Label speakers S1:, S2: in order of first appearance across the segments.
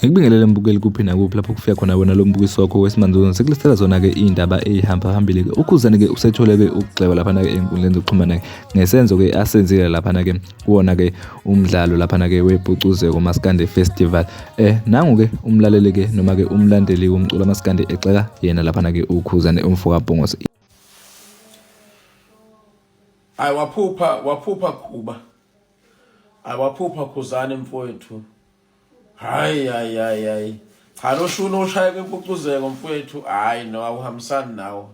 S1: Ngikubingelele mbukeli kuphi nakuphi lapho kufika khona wena lo mbukiso wakho wesimanzuzana sekulistela zona-ke iy'ndaba ey'hamba phambili-ke ukhuzane-ke usethole-ke ukugxeba laphana-ke ey'nkundleni zokuxhumana-ke ngesenzo-ke asenzile laphana-ke kuwona-ke umdlalo laphana-ke wepucuzeko maskande festival eh nangu-ke umlaleli-ke noma-ke umlandeli womculo amaskande exeka yena laphana-ke ukhuzane umfo kabhongose
S2: hayi waphupha waphupha khuba hayi waphupha khuzane mfowethu hayi hayi hayi hayi cha lo shuni oshaye kwepucuzeko mfowethu hayi no awuhambisani nawo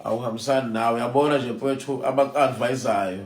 S2: awuhambisani nawo yabona nje mfowethu abakuadvisayo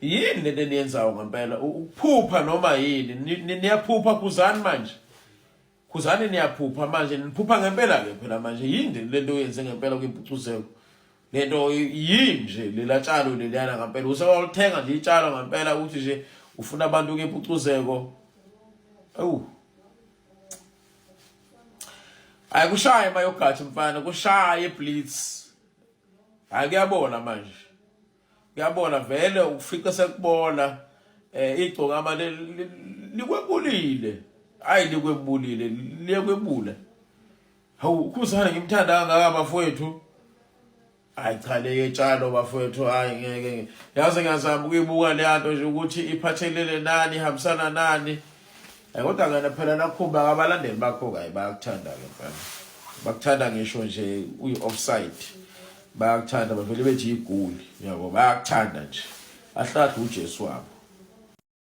S2: yini lento eniyenzayo ngempela ukuphupha noma yini niyaphupha khuzani manje khuzani niyaphupha manje niphupha ngempela ke phela manje yini lento oyenze ngempela kwimpucuzeko lento yini nje lela tshalo leliyana ngempela usewalithenga nje itshalo ngempela ukuthi nje ufuna abantu kempucuzeko awu hayi kushaye mayogathi mfana kushaye blitz hayi kuyabona manje Uyabona vele ukufica sekubona eh igcokama likwebulile. Hayi likwebulile, liyekwebula. Hawu ukhuzana ngimthanda kangaka bafowethu. Hayi cha leye tshalo bafowethu hayi ngeke. Yaze ngazama ukuyibuka le nto nje ukuthi iphathelele nani, ihambisana nani. Eh, kodwa ngena phela nakhumba abalandeli bakho kayi bayakuthanda ke mfana bakuthanda ngisho nje uyi-offside bayakuthanda bavele bethi igoli yabo bayakuthanda nje ahlahle uJesu wabo